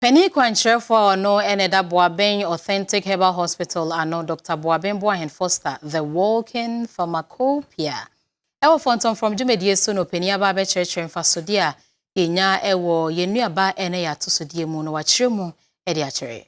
Panin kwankyerɛfoɔ a ɔno na ɛda Boaben Authentic Herbal Hospital ano, Dɔkta Boaben Boahen Foster, The Walking Pharmacopoeia, wɔ Fɔntɔmfrɔm dwumadie so na ɔpanin aba abɛkyerɛkyerɛ mfasodeɛ a yɛnya wɔ yɛn nnuaba ne yɛn atosodeɛ mu na wakyerɛ mu de akyerɛ yɛn.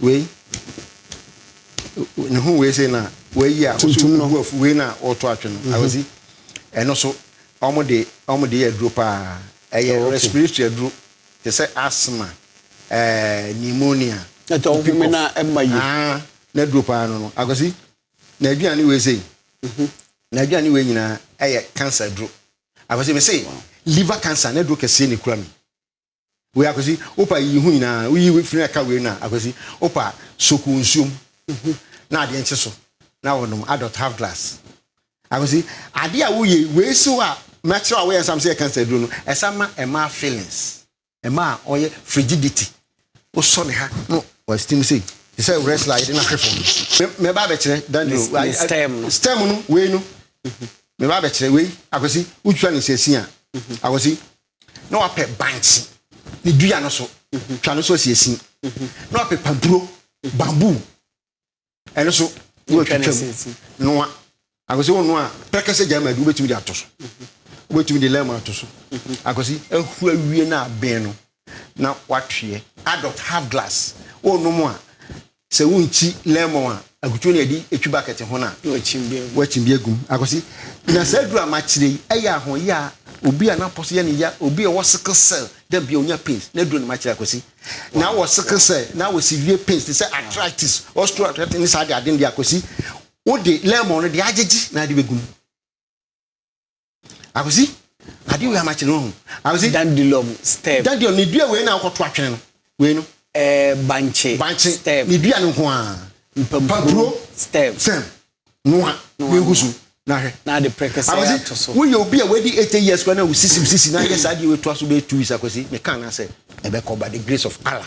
Wei, ne ho wei sei na wei yɛ a tuntum no afu wei na ɔtɔ atwe no mhm. awɔsi ɛno so wɔn de wɔn de yɛ aduro paa ɛyɛ oh, respiratory aduro te sɛ asthma ɛɛ pneumonia. ɛtɛ ɔhome na ɛma yi. aa na aduro paa no no awɔsi na aduane wei sei mhm. na aduane wei nyinaa ɛyɛ cancer aduro awɔsi mi se liver cancer na aduro kɛseɛ na ekura mi. Wei Akwasi, wopa yiyi ho nyinaa, woyi wei firi na ka wei no a, Akwasi, wopa soak wɔ nsuom na adeɛ nkye so na wɔnom adult half glass. Akwasi, adeɛ a woyɛ yi, wei so a makyerɛ a woyɛ nsam sɛ yɛ cancer aduro no, ɛsan ma ɛmaa feelings, ɛmaa ɔyɛ frigidity, wosɔ ne ha na wa steam sei, te sɛ wrestler a yɛde no ahwe fam no. Me, mɛba abɛkyerɛ Daniel, Ne- ne stem no. stem no, wei no, mɛba abɛkyerɛ wei, Akwasi, wotwitwa no nsiasin a, Akwasi, na wapɛ bankye ne dua no so twa no so asi asin na wapɛ pampuro bamboo ɛno so na watwitwa mu noa akwasi wɔnoa a pɛrɛkɛsɛ gya ma adu wobɛtumi de ato so wobɛtumi de lɛm ato so akwasi ahu awie no abɛn no na watweɛ adult half glass wɔnom a Sɛ wonkyi lemon a, akutuo no a yɛde twi bucket ho no a, wɔakyim bi agu mu akɔ so. Na saa aduru a makyerɛ yi, ɛyɛ ahoyɛ a obi a n'apɔ so yɛ no ya, obi a ɔwɔ sickle cell, dɛ bia ɔnya pains, n'aduro na makyerɛ akɔ si. Na awɔ sickle cell, na awɔ severe pains te sɛ arthritis, osteoarthritis ne saa adeade no deɛ akɔ si, wode lemon no deɛ agyegye na ade bɛgu mu. Akwasi, ade wei ama kyerɛ ho. Akwasi. Dandelion stem. Dandelion ne dua wei na akɔto atwene no. Wei no. Ɛɛ eh, bankye. Bankye. Stem. Ne dua no nko a. Mpampuro. Stem. Stem. Noa. Ne nkusu. Na hwɛ. Na de prekese ato so. Wo yɛ obi a wadi 80 years kwa na wo sisi sisi na yɛ saa de we to aso be two weeks akwasi. Me kan na sɛ ɛbɛkɔ by the grace of Allah.